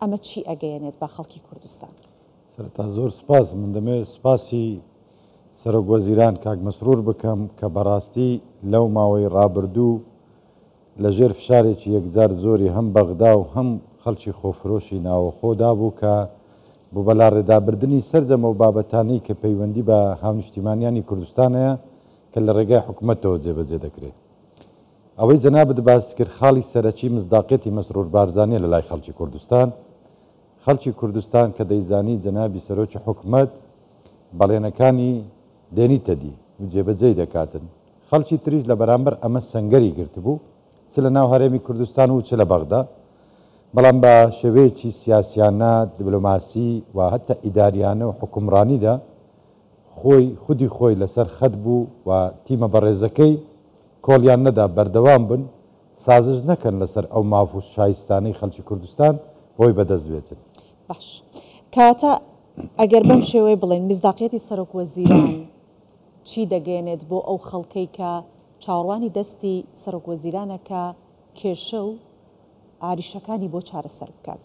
ئەمە چی ئەگەیەنێت بە خەڵکی کوردستان؟ سەرەتا زۆر سوپاس، من دەمەوێت سوپاسی سەرۆک وەزیران کاک مەسرور بکەم کە بەڕاستی لەو ماوەی ڕابردوو لە ژێر فشارێکی یەکجار زۆری هەم بەغدا و هەم خەڵکی خۆفرۆشی ناوەخۆدا بوو کە بۆ بەلاڕێدابردنی سەرجەم ئەو بابەتانەی کە پەیوەندی بە هاونیشتیمانیانی کوردستان هەیە کە لە ڕێگای حکومەتەوە جێبەجێ دەکرێت. ئەوەی جەنابت باست کرد خاڵی سەرەکی مصداقیەتی مەسرور بارزانیە لە لای خەڵکی کوردستان. خەڵکی کوردستان کە دەیزانی جەنابی سەرۆکی حکومەت بەڵێنەکانی دێنیتە دی و جێبەجێی دەکاتن خەڵکی تریش لە بەرامبەر ئەمە سەنگەری گرتبوو چ لە ناو هەرێمی کوردستان و چ لە بەغدا بەڵام بە شێوەیەکی سیاسیانە دبلۆماسی و هەتا ئیداریانە و حکومڕانیدا خۆی خودی خۆی لەسەر خەت بوو و تیمە بەڕێزەکەی کۆڵیان نەدا بەردەوام بن سازش نەکەن لەسەر ئەو ماف و شایستانەی خەلکی کوردستان بۆی بەدەست بێتن. باش کەواتە ئەگەر بەم شێوەیە بڵێین میسداقیەتی سەرۆک وەزیران چی دەگەیەنێت بۆ ئەو خەڵکەی کە چاوەڕوانی دەستی سەرۆک وەزیرانە کە کێشە و ئاریشەکانی بۆ چارەسەر بکات؟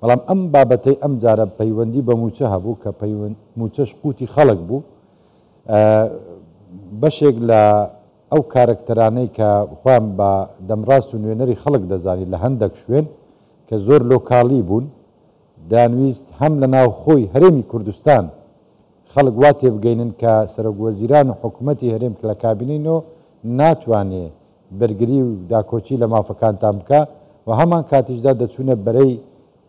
بەڵام ئەم بابەتەی ئەم جارە پەیوەندی بە مووچە هەبوو کە پەیوەند مووچەش قووتی خەڵک بوو بەشێک لە ئەو کارەکتەرانەی کە خۆیان بە دەمڕاست و نوێنەری خەڵک دەزانی لە هەندێک شوێن کە زۆر لۆکاڵی بوون دانویست هەم لە ناو خۆی هەرێمی کوردستان خەڵک وا تێبگەینن کە سەرۆک وەزیران و حکوومەتی هەرێم کە لە کابینەی نۆ ناتوانێ بەرگری و داکۆکی لە مافەکانتان بکا و هەمان کاتیشدا دەچوونە بەرەی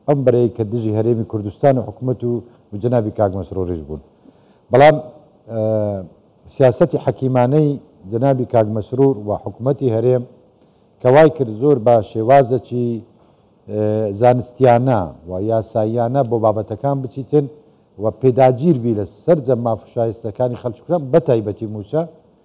ئەم بەرەی کە دژی هەرێمی کوردستان و حکومەت و و جەنابی کاک مەسروریش بوون بەڵام سیاسەتی حەکیمانەی جەنابی کاک مەسرور و حکومەتی هەرێم کە وای کرد زۆر بە شێوازەکی زانستیانە و یاساییانە بۆ بابەتەکان بچیتن و پێداگیر بی لە سەرجەم ماف و شایستەکانی خەلکی کورد بە تایبەتی مووچە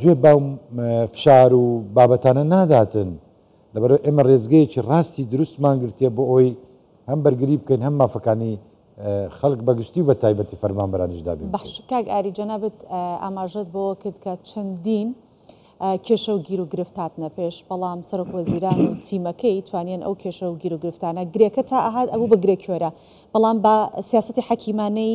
گوێ بەم فشار و بابەتانە ناداتن، لەبەرئەوەی ئێمە رێزگەیەکی راستی دروستمان گرتیە بۆ ئەوەی هەم بەرگری بکەین هەم مافەکانی خەڵک بەگشتی و بەتایبەتی فەرمانبەرانیش دابین بکەین. بەخش، کاک ئاری جەنابت ئاماژەت بەوە کرد کە چەندین کێشە و گیروگرفت هاتنە پێش، بەڵام سەرۆکوەزیران و تیمەکەی توانیان ئەو کێشە و گیروگرفتانە، گرێکە تا ئەهات ئەبوو بە گرێ کوێرە، بەڵام بە سیاسەتی حەکیمانەی،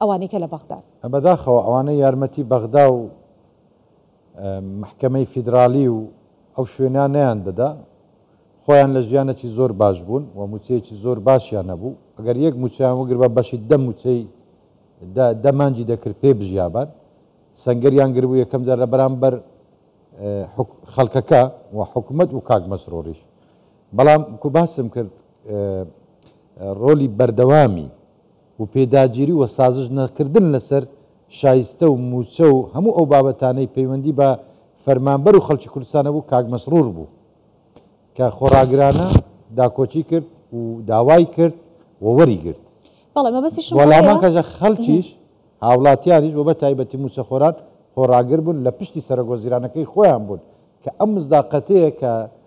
ئەوانەی کە لە بەغدان. بەداخەوە ئەوانەی یارمەتی بەغدا و مەحکەمەی فیدرالی و ئەو شوێنە نەیان دەدا خۆیان لە ژیانەکی زۆر باش بوون و موچەیەکی زۆر باشیان نەبوو ئەگەر یەک موچەیان وەگربا بەشی دە موچەی دە دە مانجی دەکرد پێ بژیابان سەنگەریان گربوو یەکەم جار لە بەرامبەر خەڵکەکە و حکومت و کاک مەسرۆریش بەڵام کو باسم کرد ڕۆلی بەردەوامی و پێداگیری و سازش نەکردن لەسەر شایستە و مووچە و هەموو ئەو بابەتانەی پەیوەندی بە فەرمانبەر و خەڵکی کوردستان هەبوو کاک مەسرور بوو کە خۆڕاگرانە داکۆکی کرد و داوای کرد و وەری گرت بەڵێ مەبەستیشم ئەوەیە. وەڵامان کەژە خەڵکیش هاوڵاتیانیش و بە تایبەتی مووچەخۆران خۆڕاگر بوون لە پشتی سەرەک وەزیرانەکەی خۆیان بوون کە ئەم مزداقەتەیە کە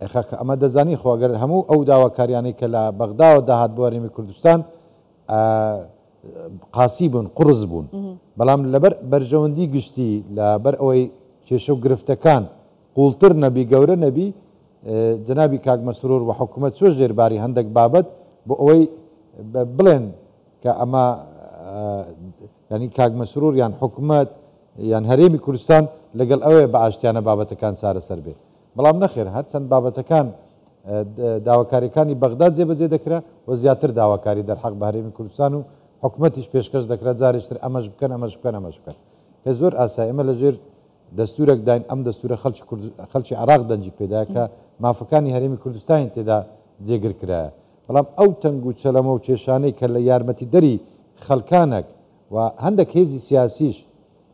ئەی خاکە ئەمە دەزانین خۆ گەر هەموو ئەو داواکاریانەی کە لە بەغداوە داهات بۆ هەرێمی کوردستان ئە قاسی بوون قوڕس بوون بەڵام لەبەر بەرژەوەندی گشتی لە بەر ئەوەی کێشە و گرفتەکان قوڵتر نەبی گەورە نەبی جنابی کاک مەسرور و حکوومەت چۆش ژێرباری هەندێک بابەت بۆ ئەوەی بڵێن کە ئەمە ینی کاک مەسرور یان حکوومەت یان هەرێمی کوردستان لەگەڵ ئەوەیە بە ئاشتیانە بابەتەکان چارەسەر بێت بەڵام نەخێر هەرچەند بابەتەکان داواکاریەکانی بەغدا جێبەجێ دەکرا و زیاتر داواکاری دەرحەق بە هەرێمی کوردستان و حکومەتیش پێشکەش دەکرا جارێشتر ئەمەش بکەن ئەمەش بکەن ئەمەش بکەن کە زۆر ئاسای ئمە لەژێر دەستورێک داین ئەم دەستورە خەلکی خەلکی عراق دەنجی پێدا کە مافەکانی هەرێمی کوردستانی تێدا جێگر کرایە بەڵام ئەو تەنگ و چەلەمە و کێشانەی کە لە یارمەتی دەری خەلکانەک و هەندێک هێزی سیاسیش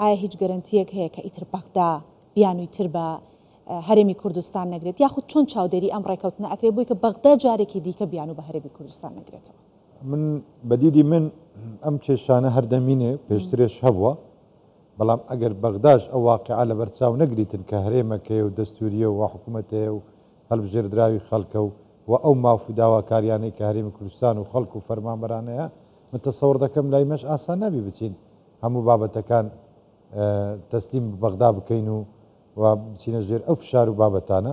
ئایا هیچ گەرەنتییەک هەیە کە ئیتر بەغدا بیانووی تر بە هەرێمی کوردستان نەگرێت، یاخود چۆن چاودێری ئەم ڕێکەوتنە ئەکرێت بۆی کە بەغدا جارێکی دیکە بیانوو بە هەرێمی کوردستان نەگرێتەوە؟ من بە دیدی من ئەم کێشانە هەر دەمینێ، پێشترێش هەبووە، بەڵام ئەگەر بەغداش ئەو واقیعە لەبەر چاو نەگریتن کە هەرێمەک هەیە و دەستوورییە و حکوومەت هەیە و هەڵبژێردراوی خەڵکە و و ئەو ماف و داواکارییانەی کە هەرێمی کوردستان و خەڵک و فەرمانبەران هەیە، من تەسەوڕ دەکەم لای مەش ئاسان نابی بچین هەموو بابەتەکان تەسلیم بە بەغدا بکەین و و بچینە ژێر ئەو فشار و بابەتانە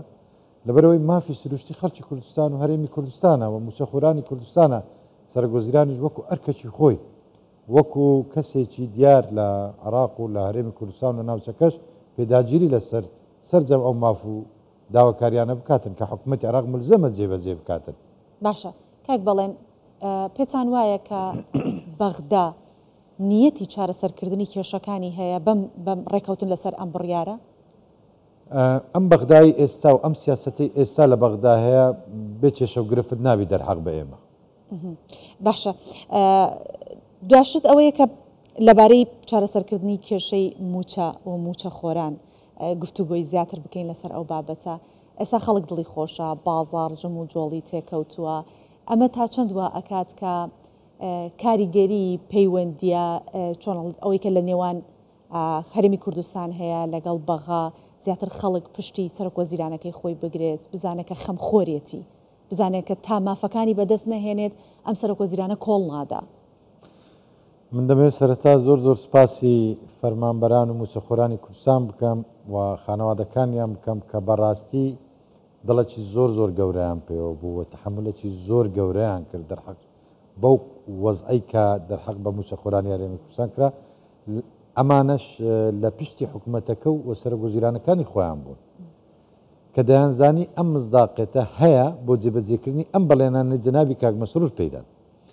لەبەرەوەی مافی سروشتی خەڵکی کوردستان و هەرێمی کوردستانە و موچەخورانی کوردستانە سەرگۆزیرانیش وەکو ئەرکەکی خۆی وەکو کەسێکی دیار لە عراق و لە هەرێمی کوردستان و ناوچەکەش پێداگیری لەسەر سەرجەم ئەو ماف و داواکاریانە بکاتن کە حکوومەتی عراق ملزەمە جێبەجێ بکاتن. باشە کاک بەڵێن پێتان وایە کە بەغدا نیەتی چارەسەرکردنی کێشەکانی هەیە بەم بەم ڕێکەوتن لەسەر ئەم بڕیارە؟ ئەم بەغدای ئێستا و ئەم سیاسەتەی ئێستا لە بەغدا هەیە بێ کێشە و گرفت نابی دەرحەق بە ئێمە. باشە دواشت ئەوەیە کە لەبارەی چارەسەرکردنی کێشەی مووچە و مووچەخۆران، گفتوگۆی زیاتر بکەین لەسەر ئەو بابەتە. ئێستا خەڵک دڵی خۆشە، بازاڕ جموجۆڵی تێکەوتووە، ئەمە تا چەند وا ئەکات کە کاریگەری پەیوەندییە چۆن ئەڵێت ئەوەی کە لە نێوان هەرێمی کوردستان هەیە لەگەڵ بەغا زیاتر خەڵک پشتی سەرۆک وەزیرانەکەی خۆی بگرێت، بزانێت کە خەمخۆرێتی، بزانێت کە تا مافەکانی بەدەست نەهێنێت ئەم سەرۆک وەزیرانە کۆڵ نادا. من دەمەوێت سەرەتا زۆر زۆر سپاسی فەرمانبەران و موچەخۆرانی کوردستان بکەم و خانەوادەکانیان بکەم کە بەڕاستی دڵەکی زۆر زۆر گەورەیان پێوە بوو و تحملەکی زۆر گەورەیان کرد دەرحەق بەو وەزعی کە دەرحەق بە موچەخۆرانی هەرێمی کوردستان کرا ئەمانەش لە پشتی حکوومەتەکە و سەرۆک وەزیرانەکانی خۆیان بوون کە دەیانزانی ئەم مزداقێتە هەیە بۆ جێبەجێکردنی ئەم بەڵێنانە جەنابی کاک مەسرور پێدان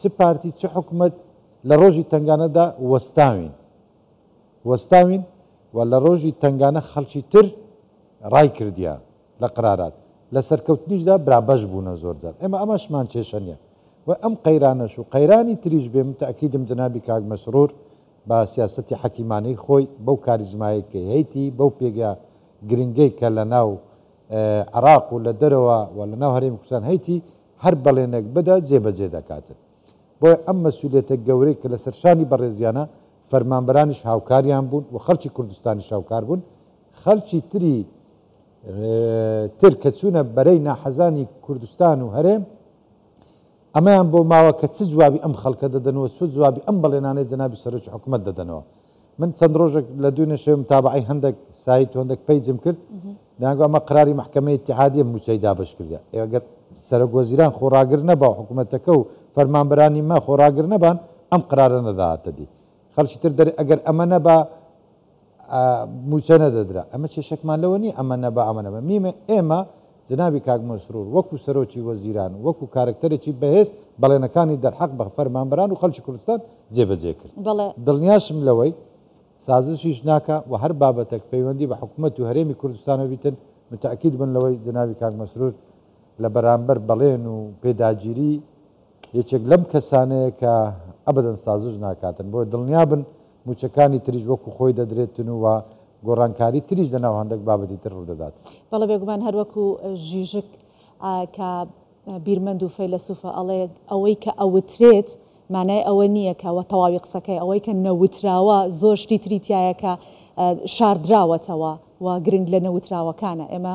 چ پارتی چ حکومەت لە ڕۆژی تەنگانەدا وەستاوین وەستاوین و لە ڕۆژی تەنگانە خەڵکی تر ڕای کردیە لە قرارات لە سەرکەوتنیشدا برابەش بوونە زۆر جار ئێمە ئەمەشمان کێشە نیە و ئەم قەیرانەش و قەیرانی تریش بێ من تەئکیدم جەنابی کاک مەسرور بە سیاسەتی حەکیمانەی خۆی بەو کاریزمایەی کە هەیتی بەو پێگە گرنگەی کە لە ناو عراق و لە دەرەوە و لە ناو هەرێمی کوردستان هەیتی هەر بەڵێنێک بدە جێبەجێ دەکاتت بۆیە ئەم مەسولیەتە گەورەی کە لەسەر شانی بەڕێزیانە فەرمانبەرانیش هاوکاریان بوون و خەڵکی کوردستانیش هاوکار بوون خەڵکی تری تر کە چوونە بەرەی ناحەزانی کوردستان و هەرێم ئەمەیان بۆ ماوە کە چ جوابی ئەم خەڵکە دەدەنەوە چۆ جوابی ئەم بەڵێنانەی جەنابی سەرۆکی حکومەت دەدەنەوە من چەند ڕۆژێک لە دوێنێ شەوێ متابەعەی هەندێک سایت و هەندێک پەیجم کرد دەیانگوت ئەمە قەراری مەحکەمەی ئیتیحادییە مووچەی دابەشکردیان ئێ ئەگەر سەرەکوەزیران خۆ ڕاگر نەبا و حکوومەتەکە و فەرمانبەرانی ما خۆ ڕاگر نەبان ئەم قەرارە نەداهاتە دی خەڵکی تر دەرێ ئەگەر ئەمە نەبا مووچە نەدەدرا ئەمە کێشەکمان لەوە نییە ئەمە نەبا ئەمە نەبا میمە ئێمە جەنابی کاک مەسرور وەکو سەرۆکی وەزیران وەکو کارەکتەرێکی بەهێز بەڵێنەکانی دەرحەق بە فەرمانبەران و خەڵکی کوردستان جێبەجێ کرد. بەڵێ. دڵنیاشم لەوەی سازشیش ناکا و هەر بابەتەک پەیوەندی بە حکومەت و هەرێمی کوردستان هەبیتن متەئکید بن لەوەی جەنابی کاک مەسرور لە بەرامبەر بەڵێن و پێداگیری یەکێک لەم کەسانەیە کە ئەبەدەن سازش ناکاتن، بۆیە دڵنیا بن مووچەکانی تریش وەکو خۆی دەدرێتن و گۆڕانکاری تریش لەناو هەندەک بابەتی تر ڕوودەدات. بەڵێ بێگومان هەر وەکو ژیژک ە کە بیرمەند و فەیلەسوفە ئەڵێ، ئەوەی کە ئەوترێت مانای ئەوە نییە کە وە تەواوی قسەکەی، ئەوەی کە نەوتراوە زۆر شتی تری تیایە کە شاردراوەتەوە و گرنگ لە نەوتراوەکانە. ئێمە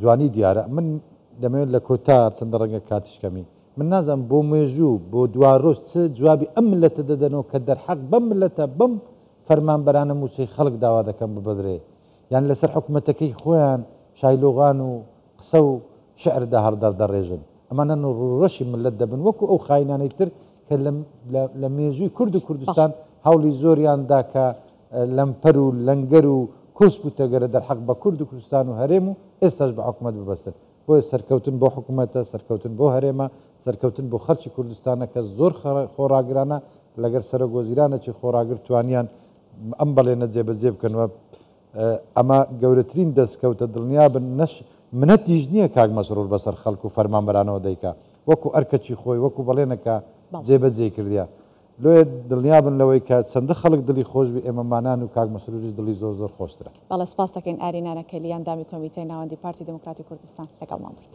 جوانی دیارە من دەمەوێت لە کۆتا چەندە ڕەنگە کاتیش کەمی من نازم بۆ مێژوو بۆ دوا ڕۆژ چ جوابی ئەم ملەتە دەدەنەوە کە دەرحەق بەم ملەتە بەم فەرمانبەرانە موچەی خەڵک داوا دەکەم ببدرێ یان لەسەر حکوومەتەکەی خۆیان شایلۆغان و قسە و شعردا هەڵدەر دەڕێژن ئەمانە ڕۆڕەشی ملت دەبن وەکو ئەو خاینانەی تر کە لە مێژووی کورد و کوردستان هەوڵی زۆریاندا کە لەمپەر و لەنگەر و کۆسپ و تەگەرە دەرحەق بە کورد و کوردستان و هەرێم و ئێستاش بە حکومەت ببەستن بۆیە سەرکەوتن بۆ حکومەتە سەرکەوتن بۆ هەرێمە سەرکەوتن بۆ خەلکی کوردستانە کە زۆر خۆڕاگرانە لەگەر سەرۆک وەزیرانەچی خۆڕاگر توانیان ئەم بەڵێنە جێبەجێ بکەن وە ئەمە گەورەترین دەستکەوتە دڵنیابن نەش منەتیش نییە کاک مەسرور بەسەر خەلک و فەرمانبەرانەوە دەیکا وەکو ئەرکەچی خۆی وەکو بەڵێنەکە جێبەجێ کردیا لۆیە دڵنیابن لەوەی کە چەندە خەڵک دڵی خۆش بێ ئێمە مانان و کاک مەسروریش دڵی زۆر زۆر خۆشترە. بەڵێ سپاس دەکەین ئاری نانەکەلی ئەندامی کۆمیتەی ناوەندی پارتی دیموکراتی کوردستان لەگەڵمان بوویت.